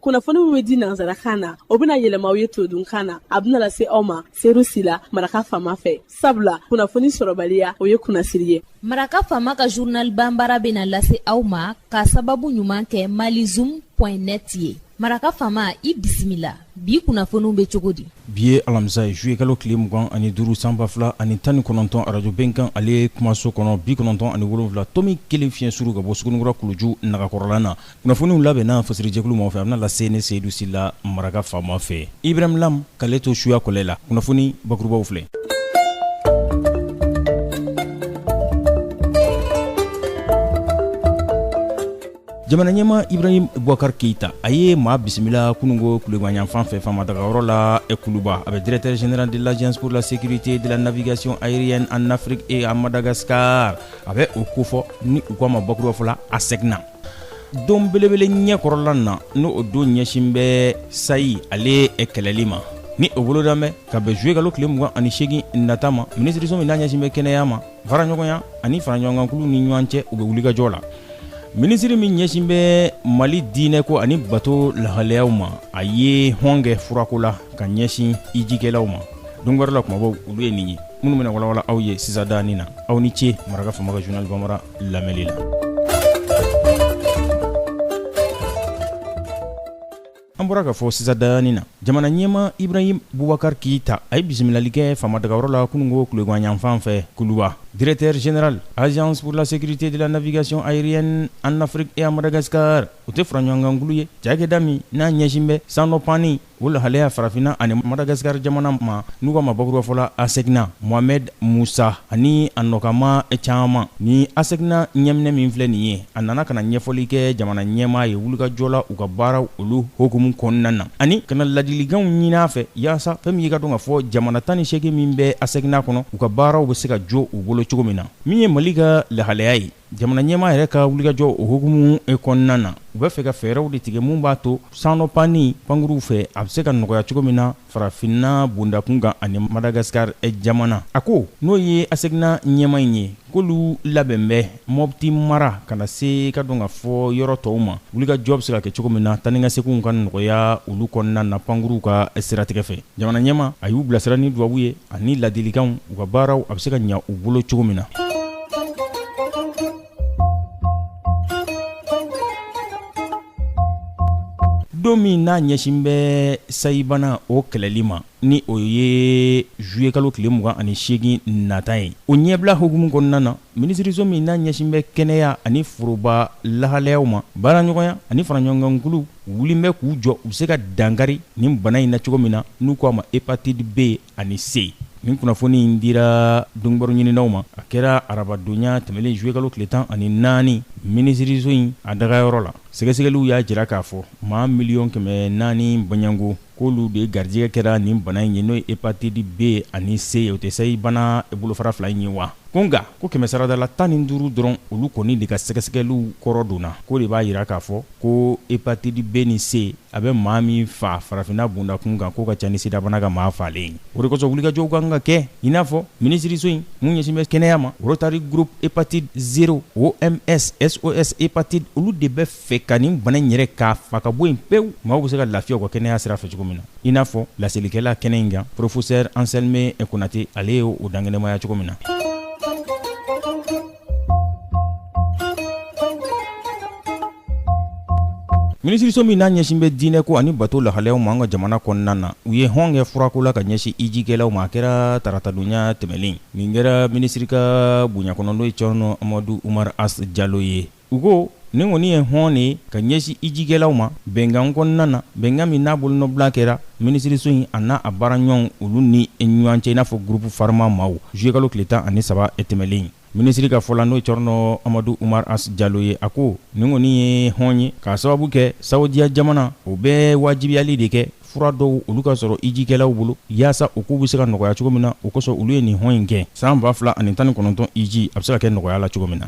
kunnafoni min bɛ di nanzarakan na o bɛna yɛlɛma aw ye todunkan na a bɛna lase aw ma seyidu sila maraka faama fɛ sabula kunnafoni sɔrɔbaliya o ye kunnasiri ye maraka faama ka journal banbara bɛna lase aw ma ka sababu ɲuman kɛ malizoom point net ye maraka faama i bisimila bi kunnafoniw bɛ cogo di bi ye alamisa ye zuye kalo tile mugan ani duuru san ba fila ani tan ni kɔnɔntɔn arajo bɛnkan ale kumaso kɔnɔ bi kɔnɔntɔn ani wolonwula tomi kelen fiɲɛ suru ka bɔ sugunnikura kuluju nagakɔrɔla na kunnafoniw labɛnna fasirijɛkulu mɔgɔ fɛ a bɛna lase ne seyidu sila maraka faama fɛ ibrahim lam k'ale to suya kɔlɛ la kunnafoni bakurubaw filɛ jamana ɲɛmaa ibrahim bubakar keita a ye maa bisimila kunungo kulegan yanfan fɛ faama dagayɔrɔ la kuluba a bɛ directeur général de l'agence pour la sécurité de la navigation aérienne en afrique et en madagascar a bɛ o kofɔ ni u k'a ma bakuruba fɔ la ASECNA don belebele ɲɛkɔrɔla na n'o o don ɲɛsin bɛ sayi ale kɛlɛli ma ni o bolodalen bɛ ka bɛn zuye kalo tile mugan ani seegin nata ma minisiriso min n'a ɲɛsin bɛ kɛnɛya ma faraɲɔgɔnya ani faraɲɔgɔnkankulu ni ɲɔgɔn cɛ u bɛ wulikajɔ la minisiri min ɲɛsin bɛ mali diinɛ ko ani bato lahalayaw ma a ye hɔn kɛ furako la ka ɲɛsin hijikɛlaw ma don wɛrɛ la kumabaw olu ye nin ye minnu bɛna walawala aw ye sisandanin na aw ni ce maraka faama ka journal banbara lamɛnni la an bɔra k'a fɔ sisandanin na jamana ɲɛmaa ibrahim bubakar keyita a ye bisimilali kɛ faama dagayɔrɔ la kunungo kulegan yanfan fɛ kuluba directeur général agence pour la sécurité de la navigation aérienne en afrique et à madagascar o tɛ faraɲɔgɔnkankulu ye cakɛda min n'a ɲɛsin bɛ sannɔ panni O lahalaya farafinna ani Madagascar jamana ma n'u k'a ma bakuruba fɔ la ASECNA, Mohamed Moussa ani a nɔkama caman. Nin ASECNA ɲɛminɛ min filɛ nin ye, a nana ka na ɲɛfɔli kɛ jamana ɲɛmaa ye wulikajɔ la u ka baaraw olu hukumu kɔnɔna na ani ka na ladilikanw ɲinin a fɛ yaasa fɛn min ye i k'a dɔn k'a fɔ jamana tan ni seegin min bɛ ASECNA kɔnɔ, u ka baaraw bɛ se ka jɔ u bolo cogo min na. Min ye Mali ka lahalaya ye. Jamana ɲɛmaa yɛrɛ ka wulikajɔ o hukumu kɔnɔna na, u bɛ fɛ ka fɛɛrɛw de tigɛ min b'a to sannɔ panni pankuruw fɛ, a bɛ se ka nɔgɔya cogo min na farafinna bondakun kan ani Madagascar jamana. A ko, n'o ye ASECNA ɲɛmaa in ye, k'olu labɛn bɛ Mopti mara ka na se k'a dɔn k'a fɔ yɔrɔ tɔw ma, wulikajɔ bɛ se ka kɛ cogo min na taa ni ka seginw ka nɔgɔya olu kɔnɔna na pankuruw ka siratigɛ fɛ. Jamana ɲɛmaa, a y'u bilasira ni dubabu ye ani laadilikanw, u ka baaraw a bɛ se ka ɲɛ u bolo cogo min na. don min n'a ɲɛsin bɛ sayibana o kɛlɛli ma ni o ye zuye kalo tile mugan ani seegin nata ye o ɲɛbila hukumu kɔnɔna na minisiriso min n'a ɲɛsin bɛ kɛnɛya ani foroba lahalayaw ma baaraɲɔgɔnya ani faraɲɔgɔnkankuluw wulilen bɛ k'u jɔ u bɛ se ka dankari nin bana in na cogo min na n'u k'a ma hepatite B ani C nin kunnafoni in dira donkibaru ɲininaw ma a kɛra arabadonya tɛmɛnen zuye kalo tile tan ani naani minisiririso in a dagayɔrɔ la sɛgɛsɛgɛliw y'a jira k'a fɔ maa miliyɔn kɛmɛ naani bɔɲɔgɔnko k'olu de garijɛgɛ kɛra nin bana in ye n'o ye hepatite B ani C ye o tɛ sayi bana bolofara fila in ye wa ko nka ko kɛmɛsaradala tan ni duuru dɔrɔn olu kɔni de ka sɛgɛsɛgɛliw kɔrɔ dɔnna k'o de b'a jira k'a fɔ ko hepatite B ni C a bɛ maa min faa farafinna bundakun kan k'o ka ca ni sidabana ka maa faalen ye o de kosɔn wulikajɔw ka kan ka kɛ i n'a fɔ minisiriso in mun ɲɛsin bɛ kɛnɛya ma Rotary Group Hepatite Zero OMS SOS Hepatite olu de bɛ fɛ ka nin bana in yɛrɛ k'a faa ka bɔ yen pewu maaw bɛ se ka lafiya u ka kɛnɛya sira fɛ cogo min na i n'a fɔ laselikɛla kɛnɛ in kan Professeur Anselme Konate ale ye o dankɛnɛmaya cogo min na minisiriso min n'a ɲɛsin bɛ diinɛ ko ani bato lahalayaw ma an ka jamana kɔnɔna na u ye hɔn kɛ furako la ka ɲɛsin ijikɛlaw ma a kɛra taratadonya tɛmɛlen nin kɛra minisiri ka bonya kɔnɔ n'o ye cɔrɔnɔ amadu umaru as jalo ye u ko Nin kɔni ye hɔn de ye ka ɲɛsin hijikɛlaw ma bɛnkan kɔnɔna na, bɛnkan min n'a bolonɔbila kɛra minisiriso in a n'a a baaraɲɔgɔnw olu ni ɲɔgɔn cɛ i n'a fɔ groupe Pharma maaw juillet-kalo tile tan ani saba tɛmɛlen in. Minisiri ka fɔ la, n'o ye Cɔrɔnɔ Amadu Umaru As Jalo ye, a ko nin kɔni ye hɔn ye k'a sababu kɛ saodiya jamana o bɛ waajibiyali de kɛ fura dɔw olu ka sɔrɔ ijikɛlaw bolo yaasa u kow bɛ se ka nɔgɔya cogo min na o kosɔn olu ye nin hɔn in kɛ san ba fila ani tan ni kɔnɔntɔn iji a bɛ se ka kɛ nɔgɔya la cogo min na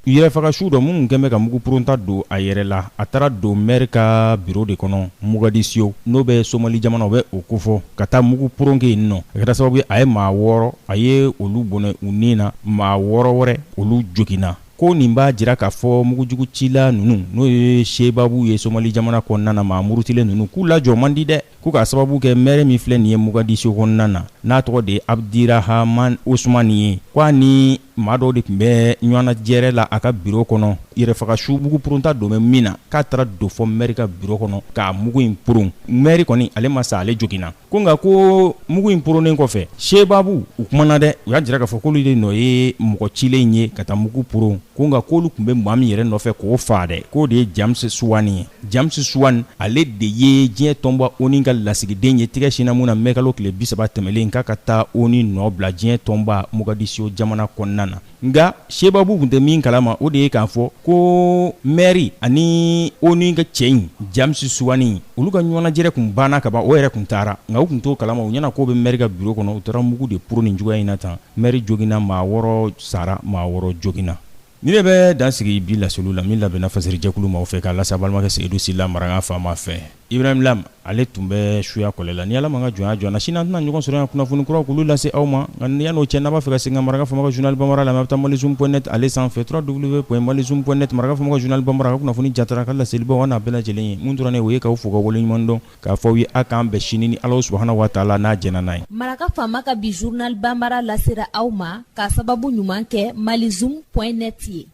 yɛrɛfagasuw dɔ minnu kɛn bɛ ka mugu puronta don a yɛrɛ la a taara don mɛri ka biro de kɔnɔ mogadisiyo n'o bɛ somali jamana o bɛ o kofɔ ka taa mugu puron kɛ yen nɔ a kɛra sababu ye a ye maa wɔɔrɔ a ye olu bɔnɛ u ni na maa wɔɔrɔ wɛrɛ olu joginna ko nin b'a jira k'a fɔ mugujugu cila ninnu n'o ye sebabu ye somali jamana kɔnɔna na maa murutilen ninnu k'u lajɔ man di dɛ ko k'a sababu kɛ mɛri min filɛ nin ye mogadiscio kɔnɔna na n'a tɔgɔ de ye abudirahaman osumani ye ko a ni maa dɔw de tun bɛ ɲɔgɔnnajɛrɛ la a ka biro kɔnɔ yɛrɛfagasu mugu purunta don bɛ min na k'a taara don fɔ mɛri ka biro kɔnɔ k'a mugu in purun mɛri kɔni ale ma sa ale joginna ko nka ko mugu in poronnen kɔfɛ sebabu u kumana dɛ u y'a jira k'a fɔ k'olu de nɔ ye mɔgɔ cilen ye ka taa mugu poron ko nka k'olu tun bɛ maa min yɛrɛ nɔfɛ k'o faa dɛ k'o de ye james suwani ye james suwani ale de ye diɲɛ tɔnba oni ka lasigiden ye tigɛ sinna mun na mɛkalo tile bisaba tɛmɛlen k'a ka taa oni nɔ bila diɲɛ tɔnba mogadisio jamana kɔnɔna na nka sebabu tun tɛ min kalama o de ye k'a fɔ ko mɛri ani oni ka cɛ in james suwani olu ka ɲɔgɔnnajɛrɛ tun banna kaban o yɛrɛ tun taara nka u tun t'o kalama u ɲɛna k'o bɛ mɛri ka buro kɔnɔ u taara mugu de poron nin cogoya in na tan mɛri joginna maa wɔɔrɔ sara maa wɔɔrɔ joginna nin de bɛ dan sigi bi laseli la min labɛnna fasiri jɛkulu maaw fɛ k'a lase aw balimakɛ seyidu sila maraka faama fɛ Ibrahim lam ale tun bɛ suya kɔlɛ la ni ala m'an ka jɔnya jɔ an na sini an tɛna ɲɔgɔn sɔrɔ yan kunnafoni kuraw k'olu lase aw ma nka yan n'o cɛ n'a b'a fɛ ka segin ka maraka faama ka journal bambara lamɛn a bɛ taa malizoom point net ale sanfɛ trois w point malizoom point net maraka faama ka journal bambara ka kunnafoni jatara ka laseli bɔ n'a bɛɛ lajɛlen ye mun tora an na o ye k'aw fo ka waleɲumandɔn k'a fɔ aw ye a k'an bɛn sini ni alahu subhanahu wa taala n'a jɛnna n'a ye maraka faama ka bi journal bambara lasera aw ma k'a sababu ɲuman kɛ malizoom point net ye